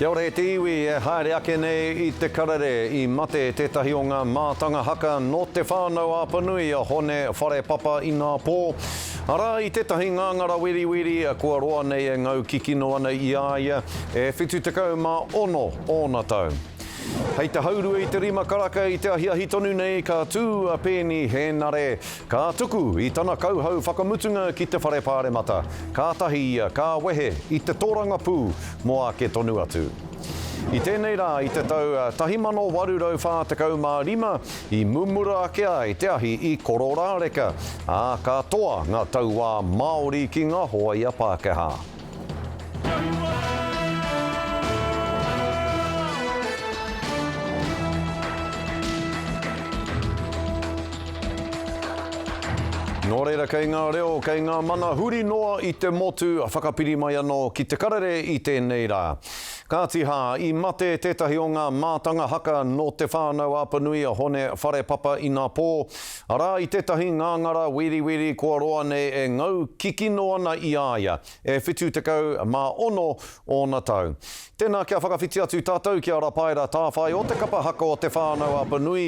Kia ora e te iwi e haere ake nei i te karere. I mate tētahi o ngā mātanga haka nō Te Whānau a Panui, a Hone Wharepapa i ngā pō. Arā, i tētahi ngāngara wiriwiri, kua roa nei e ngau kikino ana i a ia, e 76 ōna tau. Hei te haurua i te rima karaka i te ahiahi tonu nei, ka tū a Peeni Hēnare, Ka tuku i tana kauhau whakamutunga ki te Whare Pāremata, kātahi ia ka wehe i te tōrangapū mō ake tonu atu. I tēnei rā i te tau 1845 i mumura ake ai te ahi i Kororāreka, ā, ka toa ngā tauā Māori ki ngā hōia Pākehā. Nō reira kei ngā reo, kei ngā mana huri noa i te motu, whakapiri mai anō ki te karere i tēnei rā. Kāti hā, i mate tētahi o ngā mātanga haka nō Te Whānau Apanui a Hone Wharepapa inapō Arā, i tētahi ngāngara wīriwīri kua roa nei e ngau kikino ana i a ia, e 76 ōna tau. Tēnā kia whakawhiti atu tātou ki a Rapaera Tāwhai o te kapa haka o Te Whānau-a-Panui,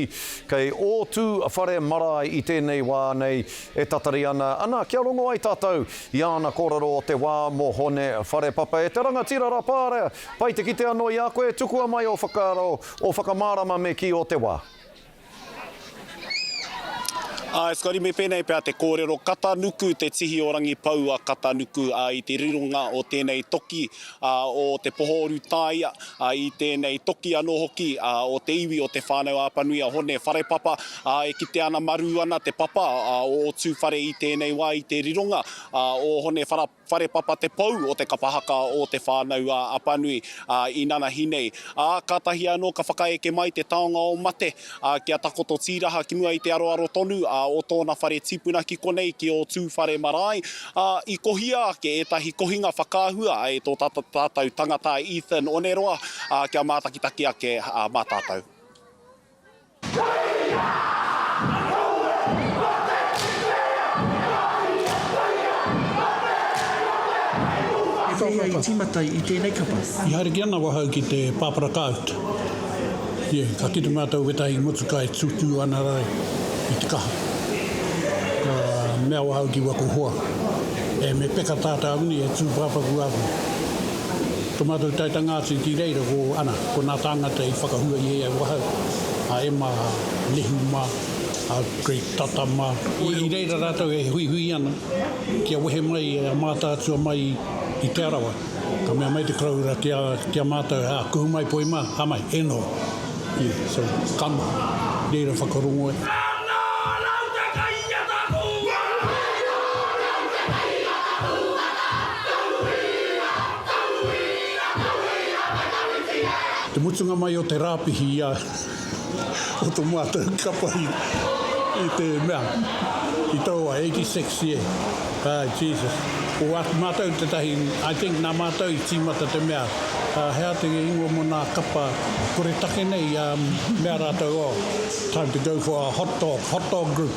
kei ō tū whare marae i tēnei wā nei e tatari ana, ana kia rongo ai tātou i āna kōrero o te wā mō Hone Wharepapa. E te rangatira Rapaera, pai te kite anō i a koe, tukua mai ō whakaaro, ō whakamārama me kī o te wā. Āe Scotty, me pēnei pea te kōrero, Katanuku te tihi o Rangipou a Katanuku, ā, i te rironga o tēnei toki, ā, o Te Poho-o-Rūtāia, ā, i tēnei toki anō hoki, ā, o te iwi o Te Whānau-a-Apanui a Hone Wharepapa, ā, e kite ana marū ana te papa, ā, o Ōtūwhare i tēnei wā, i te rironga, ā, o Hone Whara. Wharepapa te pou o te kapa haka o Te Whānau-ā-Apanui, ā, inanahi nei. Ā, kātahi anō ka whakaeke mai te taonga o mate, ā, kia takoto tīraha ki mua i te aroaro tonu, ā, o tōna whare tipuna ki konei ki ō Tūwhare marae, ā, i kohia ake ētahi kohinga whakaahua e tō tātou tangata Ethan Oneroa, ā, kia mātakitaki ake mā tātou. E whai ia i tīmata i tēnei kapa. I haere ki ana wahau ki te pāpara kāut. Ia, ka kite mātou o wētahi motuka e tūtū ana rā i te kaha. Ka mea wahau ki waku hoa, E, me peka tā tāwini e tūpāpaku aku. Ko mātou taetanga atu i ti reira ko ana, ko nā tāngata i whakahua i e au ahau, a Emma, a Nehu mā, a Greg Tata mā. I reira rātou e huihui ana kia wehe mai a Mātaatua mai i Te Arawa, ka mea mai te koroura ki a, ki a mātou, ā, kuhu mai poi mā, ka mai, e noho. Ī, so, ka noho. Reira whakarongo e. Ka noho rautaki i a Tapuuata! Ka noho rautaki i a Tapuuata! Te mutunga mai o te rāpihi ia o to mātou kapa i te mea i taua 86 year a Jesus ko watu mātou tetahi I think nā mātou i tīmata te mea hea te ingoa mo nā kapa koretake nei ia mea rātou oh time to go for a hot dog hot dog group.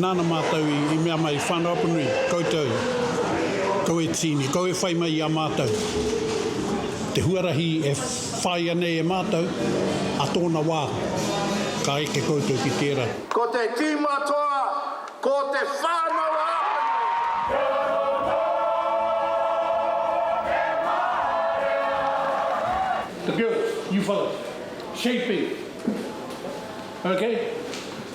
Nāna mātou i mea mai, Whānau-apanui, koutou, kau e tīni, kau e whai mai i a mātou te huarahi e whāia nei e mātou, ā tōna wā, ka eke koutou ki tērā. Ko te tīma toa, ko te Whānau-a-apanui. The girls, you fellows, shaping, okay?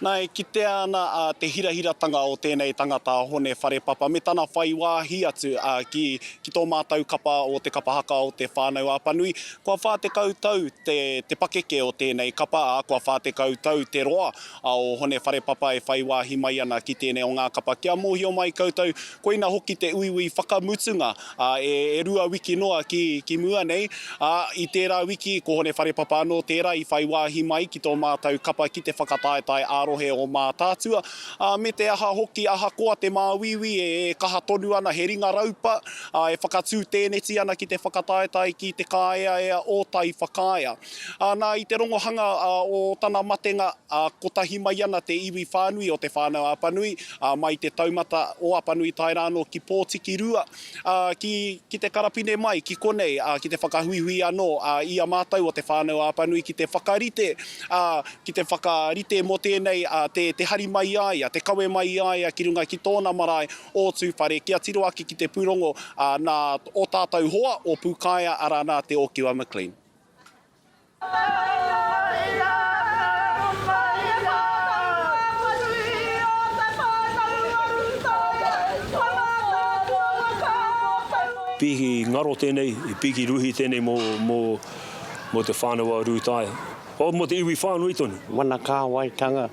Na, e kitea ana te hirahiratanga o tēnei tangata a Hone Wharepapa me tana whai wāhi atu ki ki tō mātou kapa o te kapa haka o Te Whānau a Panui. Kua whā tekau tau te pakeke o tēnei kapa, ā, kua whā tekau tau te roa o Hone Wharepapa e whai wāhi mai ana ki tēnei o ngā kapa. Kia mōhio mai koutou, Koina hoki te uiui whakamutunga, ā, e rua wiki noa ki, ki mua nei, ā, i tērā wiki, ko Hone Wharepapa anō tērā i whai wāhi mai ki tō mātou kapa ki te whakataetae ā-rohe o Mātaatua, ā, me te aha hoki, ahakoa te māuiui e kaha tonu ana, he ringa raupa, ā, e whakatū tēneti ana ki te whakataetae ki Te Kāeaea o Taiwhakaea. Ā, nā, i te rongohanga, ā, o tana matenga, Ā, kotahi mai ana te iwi whānui o Te Whānau-a-Apanui, ā, mai i te taumata o Apanui tae rā anō ki Pōtiki-rua, ā, ki, ki te karapine mai, ki konei, ā, ki te whakahuihui anō, ā, i a mātou o Te Whānau-a-Apanui ki te whakarite, ā, ki te whakarite mō tēnei, ā, te, te hari mai i a ia, te kawe mai i a ia ki runga ki tōna marae o Tūwhare, kia tiro ake ki te pūrongo, ā, nā ō tātou hoa o Pūkaea, arā, nā Te Ōkiwa McLean. Piki ngaro tēnei, piki ruhi tēnei mō, mō, mō te whānau a Rūtaia. Oh, mō te iwi whānui tonu. Mana kāwaitanga,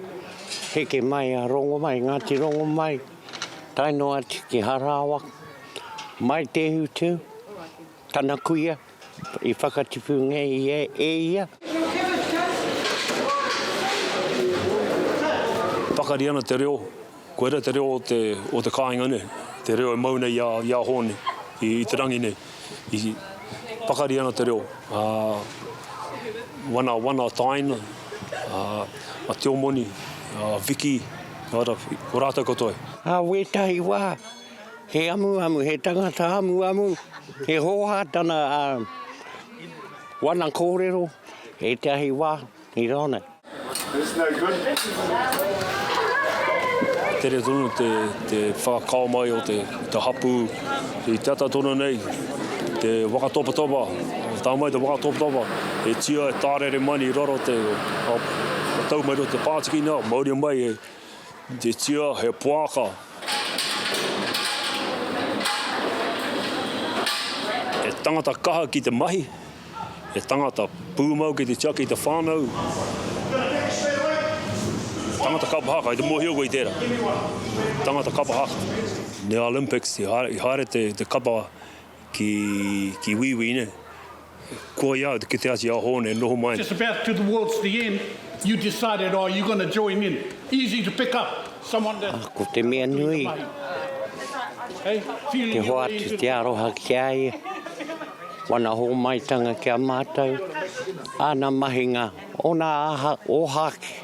heke mai a Rongomai, Ngāti Rongomai, tae noa atu ki Harawa, mai Te Utu. Tana kuia i whakatipu ngia e ia. Pakari ana te reo, koira te reo o te kāinga nei, te reo e mau nei i a Hōne, i te rangi nei. Pakari ana te reo, wana, wana tāina, a Tio Moni, a Viki, ko rātou katoa. Ā wētahi wā, He amuamu, he tangata amuamu, he hōhā tana wana kōrero ētahi wā i rā nei. Tere tonu te whakakao mai o te hapū i te ata tonu nei, te waka topatopa, tā mai te waka topatopa, e tia, e tārere mai nei i raro te, tau mai rō te pātiki nā, mauria mai Titia, he poaka. He tangata kaha ki te mahi, he tangata pūmau ki te tiaki i te whānau, tangata kapa haka, i te mōhio koe i tērā, tangata kapa haka. Nei Olympics, i haere te kapa Ki, ki Wīwī nei. Koia, ki te ati a Hōne, noho mai. Just about to towards the end, you decided, oh, you're gonna join in. Easy to pick up someone that. Ā, ko te mea nui, te hoatu, te aroha ki a ia, wana hōmaitanga ki a mātou, āna mahinga, ōna āha, ōhākī.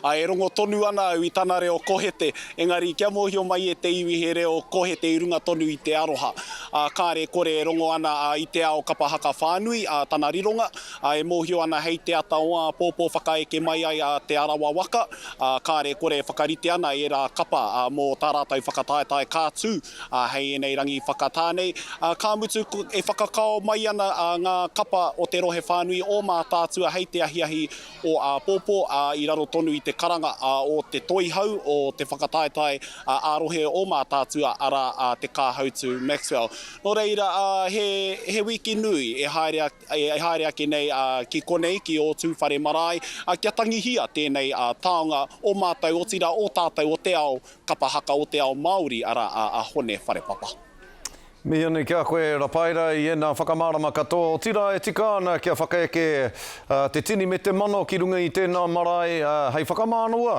Ā, e rongo tonu ana au i tana reo kohete, engari kia mōhio mai e te iwi he reo kohete i runga tonu i te aroha. Ā, kāre e kore e rongo ana a i te ao kapa haka whānui, ā, tana rironga, ā, e mōhio ana hei te ata o āpōpō whakaeke mai ai a Te Arawa waka, ā, kāre e kore e whakarite ana ērā kapa, ā, mō tā rātou whakataetae ka tū, ā, hei ēnei rangi whakatā nei, ā, ka mutu e whakakao mai ana, ā, ngā kapa o te rohe whānui o Mātaatua hei te ahiahi o āpōpō, ā, i raro tonu i te karanga o te Toihau o te Whakataetae ā-Rohe o Mātaatua, arā, a Te Kāhautu Maxwell. Nō reira, he wiki nui e haere ake nei ki konei, ki ō tūwhare marae, kia tangihia tēnei taonga o mātou, otirā, o tātou, o te ao kapa haka, o te ao Māori, arā, a Hone Wharepapa. Mihi anei ki a koe, Rapaira, i ēnā whakamārama katoa, otirā e tika ana kia whakaeke te tini me te mana ki runga i tēnā marae hei whakamānawa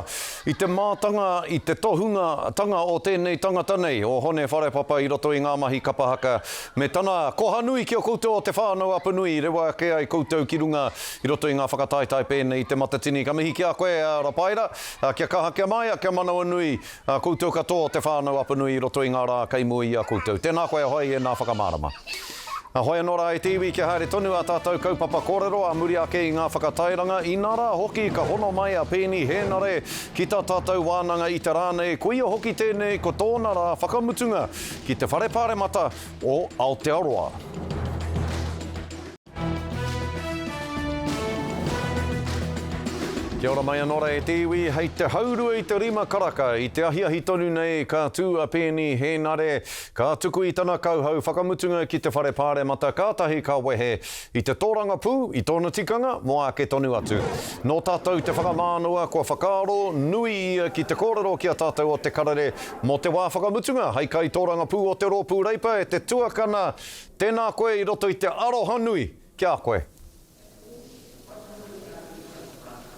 i te mātanga, i te tohungatanga o tēnei tangata nei, o Hone Wharepapa i roto i ngā mahi kapa haka me tana koha nui ki a koutou o Te Whānau-a-Punui i rewa ake ai koutou ki runga i roto i ngā whakataetae pēnei i Te Matatini. Ka mihi ki a koe, Rapaira, kia kaha, kia māia, kia manawanui A koutou katoa o Te Whānau Apanui i roto i ngā rā kei mua i a koutou. Tēnā koe ahoi ēnā whakamārama. Ahoi anō rā e te iwi kia haere tonu ā tātou kaupapa kōrero ā muri ake i ngā whakatairanga, inā rā hoki ka hono mai a Peeni Hēnare ki tā tātou wānanga i te rā nei, koia hoki tēnei ko tōna rā whakamutunga ki te Whare Pāremata o Aotearoa. Kia ora mai anō ra e te iwi, hei te haurua i te rima karaka, i te ahiahi tonu nei ka tū a Peeni Hēnare, ka tuku i tana kauhau whakamutunga ki te Whare Pāremata kātahi ka wehe i te tōrangapū i tōna tikanga mō āke tonu atu. Nō tātou te whakamānawa kua whakaaro nui ia ki te kōrero ki a tātou o Te Karere mō te wā whakamutunga hei kaitōrangapū o te Rōpū Reipa e te tuakana Tēnā koe i roto i te arohanui ki a koe.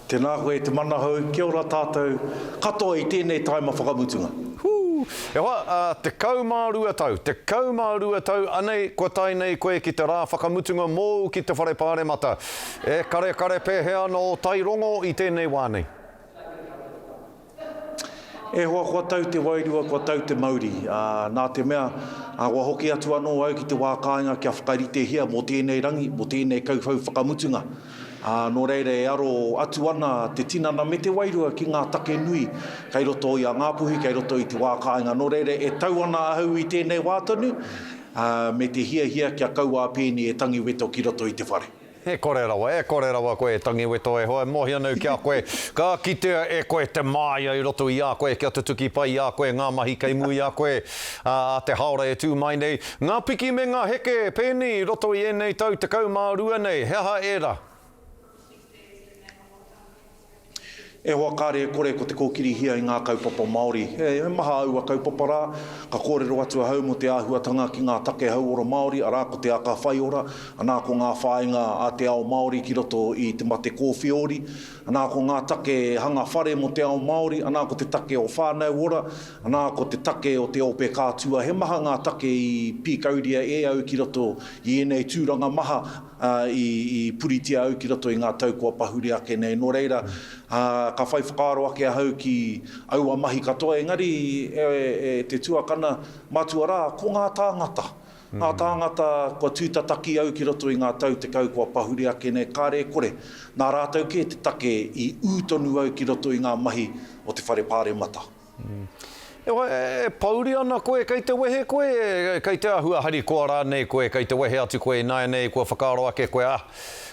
Tēnā koe i te manahau, kia ora tātou katoa i tēnei tāima whakamutunga. Hū! E hoa, ā, tekau mā rua tau, tekau mā rua tau anei kua tae nei koe ki te rā whakamutunga mōu ki te Whare Pāremata. E karekare pēhea ana ō tairongo i tēnei wā nei? E hoa, kua tau te wairua, kua tau te mauri, ā, nā te mea, ā, kua hoki atu anō au ki te wā kāinga kia whakaritehia mō tēnei rangi, mō tēnei kauwhau whakamutunga. Ā, nō reira e aro atu ana te tinana me te wairua ki ngā take nui kei roto i a Ngā Puhi, kei roto i te wā kāinga. Nō reira, e tau ana ahau i tēnei wā tonu, ā, me te hiahia kia kaua a Peeni e tangiweto ki roto i te whare. E kore rawa, e kore rawa koe e Tangiweto e hoa, e mohi anau ki a koe, ka kitea e koe te māia i roto i a koe kia tutuki pai i a koe ngā mahi kei mua i a koe, ā, te haora e tū mai nei. Ngā piki me ngā heke, pēnī, i roto i ēnei tau tekau mā rua nei, he aha ērā? E hoa kāre e kore ko te kōkirihia i ngā kaupapa Māori. He maha aua kaupapa rā, ka kōrero atu ahau mō te āhuatanga ki ngā take hauora Māori, arā ko te aka whaiora, anā ko ngā whāinga a te ao Māori ki roto i te mate kōwhiori, anā ko ngā take hanga whare mō te ao Māori, anā ko te take o whānau ora, anā ko te take o te ope kātua. He maha ngā take i pīkauria e au ki roto i ēnei tūranga maha. ā, i puritia au ki roto i ngā tau kua pahure ake nei. Nō reira, ā, ka whai whakaaro ake ahau ki aua mahi katoa, engari, e te tuakana, matua rā, ko ngā tāngata. Ngā tāngata kua tūtataki au ki roto i ngā tau tekau kua pahure ake nei, kāre e kore, nā rātou kē te take i ū tonu au ki roto i ngā mahi o te Whare Pāremata. E hoa, e pouri ana koe kei te wehe koe, kei te ahua harikoa rānei koe, kei te wehe atu koe ināianei kua whakaaro ake koe, ah,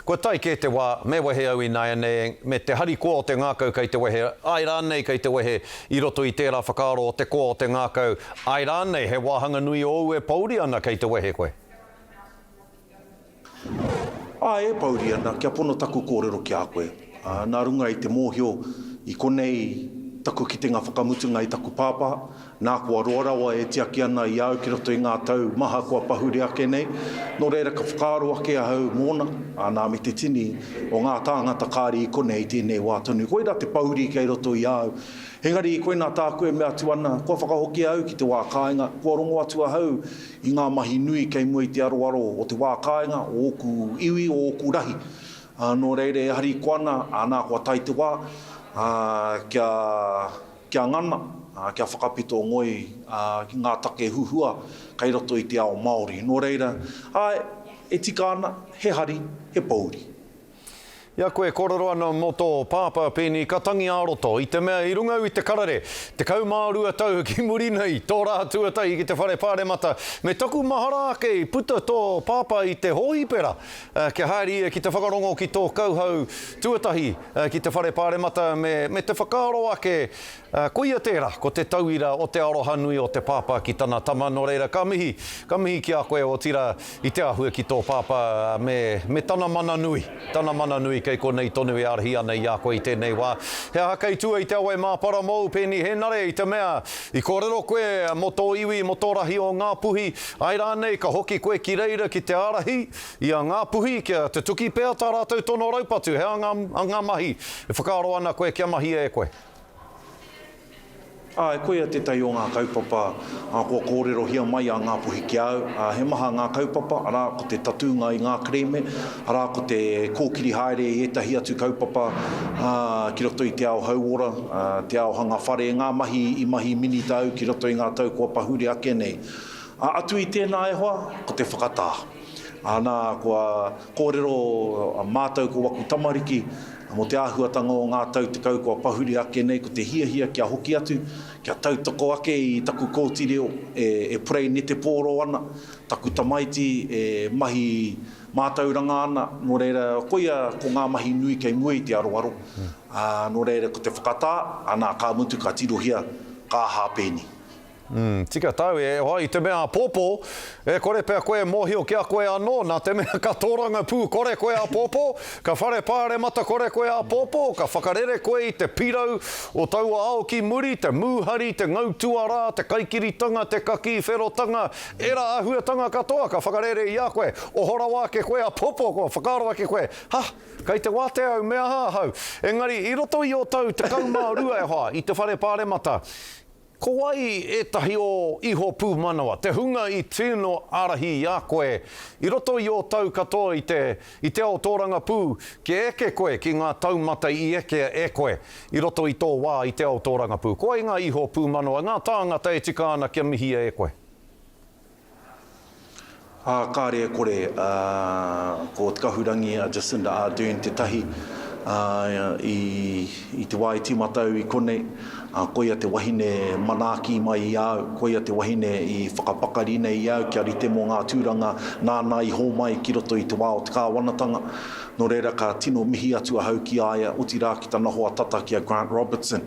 kua tae kē te wā, me wehe au ināianei, me te harikoa o te ngākau kei te wehe, āe rānei kei te wehe, i roto i tērā whakaaro o te koa o te ngākau, āe rānei he wāhanga nui ōu e pouri ana kei te wehe koe. Ā, e pouri ana, kia pono taku kōrero ki a koe. Ā, nā runga i te mōhio i konei taku kitenga whakamutunga i taku pāpā, nā kua roa rawa e tiaki ana i a au ki roto i ngā tau maha kua pahure ake nei, nō reira ka whakaaro ake ahau mōna, ā, nā me te tini o ngā tāngata kāre i konei i tēnei wā tonu. Koirā te pouri kei roto i a au. Engari, koinā tāku e mea atu ana, kua whakahokia au ki te wā kāinga, kua rongo atu ahau I ngā mahi nui kei mua i te aroaro o te wā kāinga, o ōku iwi, o ōku rahi. Nō reira, e hari kua ana, nā kua tae te wā, kia, kia ngana, kia whakapito ngoi ki ngā take huhua kei roto i te ao Māori. Nō reira, āe, e tika ana, he hari, he pōuri. I a koe e kōrero ana mō tō pāpā pēnei ka tangi ā-roto, i te mea i runga au i te karare, tekau mā rua tau ki muri nei, tō rā tuatahi ki te whare pāremata, me taku mahara ake i puta tō pāpā i te hōhipera kia haere ia ki te whakarongo ki tō kauhau tuatahi ki te whare pāremata me te whakaaro ake Ā, koia tērā, ko te tauira o te aroha nui o te pāpā ki tana tama, nō reira, ka mihi, ka mihi ki a koe, otirā, i te āhua ki tō pāpā, ā, me, me tana mana nui, tana mana nui kei konei tonu e ārahi ana i a koe i tēnei wā. He aha kei tua i te awa e māpara mōu, Peeni Hēnare, i te mea, i kōrero koe mō tō iwi, mō tō rahi o Ngā Puhi, āe rānei, ka hoki koe ki reira ki te ārahi i a Ngā Puhi, kia tutuki pea tā rātou tono raupatu, he aha ngā, ngā mahi e whakaaro ana koe kia mahia e koe? Ā, e koia tētahi o ngā kaupapa kua kōrerohia mai a Ngāpuhi ki a au. Ā, he maha ngā kaupapa, arā, ko te tatūnga i ngā kerēme, arā, ko te kōkiri haere i ētahi atu kaupapa ki roto i te ao hauora, te ao hanga whare, ngā mahi i mahi minita au ki roto i ngā tau kua pahure ake nei. Ā, atu i tēnā e hoa, ko te whakatā. Ā, nā, kua. Kōrero, a mātou ko waku tamariki, mō te āhuatanga o ngā tau tekau kua pahuri ake nei ko te hiahia kia hoki atu, kia tautoko ake i taku kōti reo e purei netepōro ana, taku tamaiti e mahi mātauranga ana, nō reira koia ko ngā mahi nui kei mua i te aroaro, ā, nō reira ko te whakatā, anā, ka mutu ka tirohia, ka hāpēni. Umm, tika tau e hoa i te mea apōpō. E kore pea koe e mōhio ki a koe anō, nā te mea ka tōrangapū kore koe apōpō, ka whare pāremata kore koe apōpō, ka whakarere koe i te pirau o taua ao ki muri, te mūhari, te ngau tuarā, te kaikiritanga, te kakī wherotanga, ērā āhuatanga katoa ka whakarere i a koe. Oho rawa ake koe apōpō, kua whakaaro ake koe, Ha! Kei te wātea au, me aha ahau? Engari, i roto i ō tau tekau mā rua e hoa, i te whare pāremata, Ko wai ētahi o iho pūmanawa, te hunga i tino ārahi i a koe i roto i ō tau katoa i te, i te ao tōrangapū, kia eke koe ki ngā taumata i eke e koe i roto i tō wā i te ao tōrangapū? Ko wai ngā iho pūmanawa, ngā tāngata e tika ana kia mihia e koe? Ā, kāre e kore, ā, ko Te Kahurangi a Jacinda Ardern tētahi, ā, i, i te wā i tīmata au i konei, ā, koia te wahine manaaki mai i a au, koia te wahine i whakapakari nei i a au kia rite mō ngā tūranga nāna i hōmai ki roto i te wā o te kāwanatanga. Nō reira, ka tino mihi atu ahau ki a ia, otirā ki tana hoa tata ki a Grant Robertson.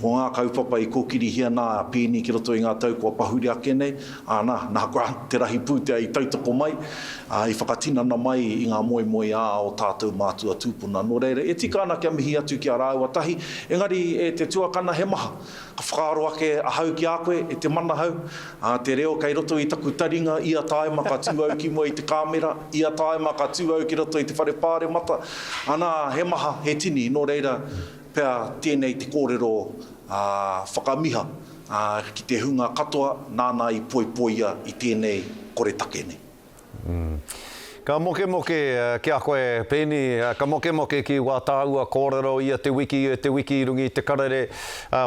Ko ngā kaupapa i kōkirihia nā Peeni ki roto i ngā tau kua pahuri ake nei, āna, nā koa te rahi pūtea i tautoko mai, ā, i whakatinana mai i ngā moemoeā o tātou mātua tūpuna. Nō reira, e tika ana kia mihi atu ki a rāua tahi, engari e te tuakana he maha, ka whakaaro ake ahau ki a koe, e te manahau, ā, te reo kei roto i taku taringa, ia tāima ka tū au ki mua i te kāmera, ia tāima ka tū au ki roto i te whare pāremata, anā, he maha, he tini, nō reira, Pea tēnei te kōrero whakamiha ki te hunga katoa nāna i poipoia i tēnei koretake nei. Ka mokemoke ki a koe, Peeni, ka mokemoke ki wā tāua kōrero ia te wiki, te wiki i runga i te karere.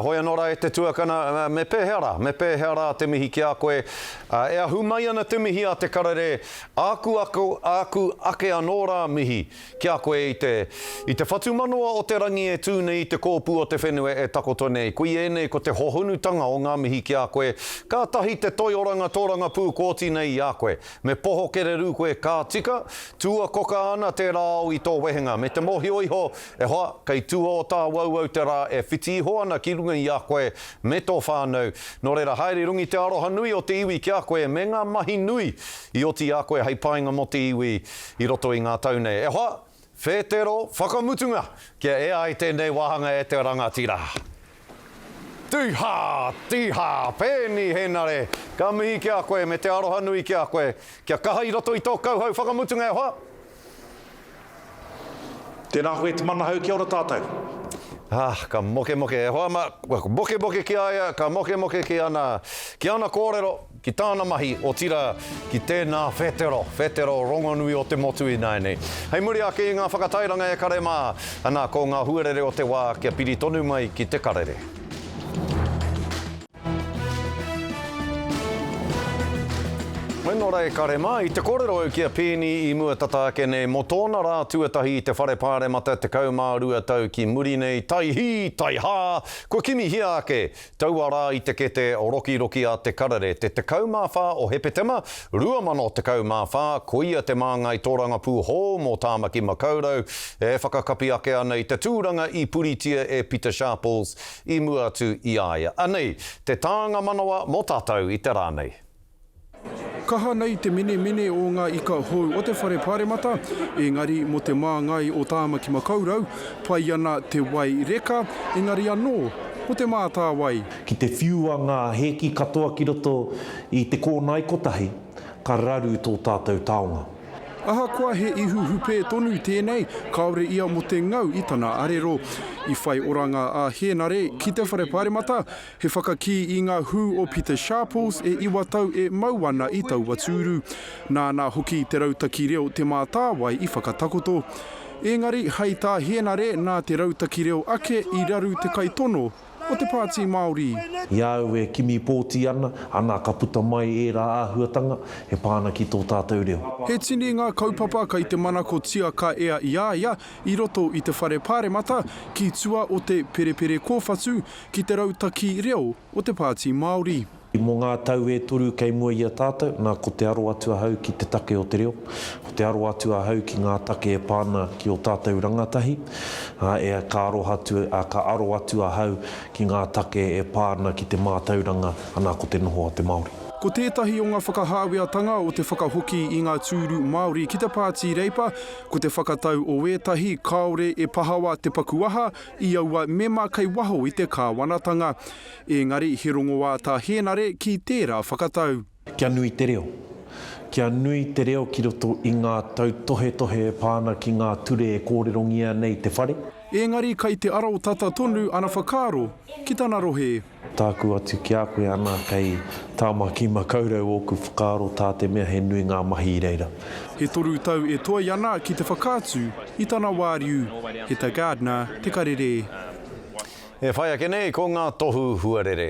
Hoi anō rā e te tuakana, me pēhea rā, me pēhea rā te mihi ki a koe? E ahu mai ana te mihi a te karere, āku ake anō rā mihi. Ki a koe i te, i te whatumanawa o te rangi e tū nei i te kōpū o te whenua e takoto nei, koe ēnei ko te hohonutanga o ngā mihi ki a koe, kātahi te toi oranga tōrangapū kōti nei i a koe. Me poho kererū koe ka tika, tua koka ana tērā ao i tō wehenga, me te mōhio iho, e hoa, kei tua o tāu auau te rā e whiti iho ana ki runga i a koe me tō whānau, nō reira haere rungi te aroha nui o te iwi ki a koe me ngā mahi nui i oti i a koe hei painga mō te iwi. I roto i ngā tau nei, e hoa! Whētero whakamutunga! Kia ea ai tēnei wāhanga e te rangatira! Tīhā! Tīhā! Pēni Hēnare! Ka mihi ki a koe me te aroha nui ki a koe. Kia kaha i roto i tō kauhau whakamutunga e hoa! Tēnā koe te manahau kia ora tātou! Ah, ka mokemoke e hoa ma, ka mokemoke ki a ia, ka mokemoke ki ana, ki ana kōrero. ki tāna mahi, otirā, ki tēnā whetero, whetero rongonui o te motu ināianei. Hei muri ake i ngā whakatairanga e kare mā, anā, ko ngā huarere o te wā kia piri tonu mai ki te karere. Mai nō rā e kare mā, i te kōrero au ki a Peeni i mua tata ake nei, mō tōna rā tuatahi i te Whare Pāremata 12 tau ki muri nei, taihī, taihā, kua kimihia ake Taua rā i te kete rokiroki a Te Karere, te 14 o Hepetema, 2014, koia te māngai tōrangapū hou mō Tāmaki Makaurau e whakakapi ake ana i te tūranga i puritia e Pita Sharples i mua atu i a ia. Anei te tānga manawa mō tātou i te rā nei. Kaha nei te menemene o ngā ika hou o te Whare Pāremata, engari mō te māngai o Tāmaki Makaurau, pai ana te wai reka, engari anō, ko te mātāwai. Ki te whiua ngā hēki katoa ki roto i te kōnae kotahi, ka raru tō tātou taonga. Ahakoa he ihu hupē tonu tēnei, kāore ia mō te ngau i tana arero. I whai oranga a Hēnare ki te Whare Pāremata, He whakakī i ngā hū o Peter Sharples e iwa tau e mau ana i taua tūru. Nāna hoki te rautaki reo Te Mātāwai i whakatakoto. Ēngari, hai tā Hēnare nā te rautaki reo ake i raru te kaitono o te Pāti Māori. I a au e kimi pōti ana, ana ka puta mai ērā āhuatanga e pā ana ki tō tātou reo. He tini ngā kaupapa kei te manakotia ka ea i a ia i roto i te Whare Pāremata ki tua o te Perepere Kōwhatu, ki te rautaki reo o te Pāti Māori. Mō ngā tau e toru kei mua i a tātou, nā, ko te aro atu ahau ki te take o te reo, ko te aro atu ahau ki ngā take e pā ana ki ō tātou rangatahi, ā, e, ka aroha atu, ā, ka aro atu ahau ki ngā take e pā ana ki te mātauranga, anā, ko te noho a te Māori. Ko tētahi o ngā whakahāweatanga o te whakahoki i ngā tūru Māori ki te Pāti Reipa, ko te whakatau o ētahi kāore e pahawa te paku aha i aua mema kei waho i te kāwanatanga, ēngari he rongoā tā Hēnare ki tērā whakatau. Kia nui te reo. Kia nui te reo ki roto i ngā tautohetohe e pā ana ki ngā ture e kōrerongia nei te whare. Ēngari kei te arotata tonu ana whakaaro ki tana rohe. Tāku atu ki a koe ana kei Tāmaki Makaurau ōku whakaaro tā te mea he nui ngā mahi i reira. E toru tau e toe ana ki te whakaatu i tana wāriu, he ta Gardner te karere. E whai ake nei ko ngā tohu huarere.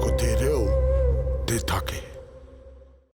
Ko te reo te take.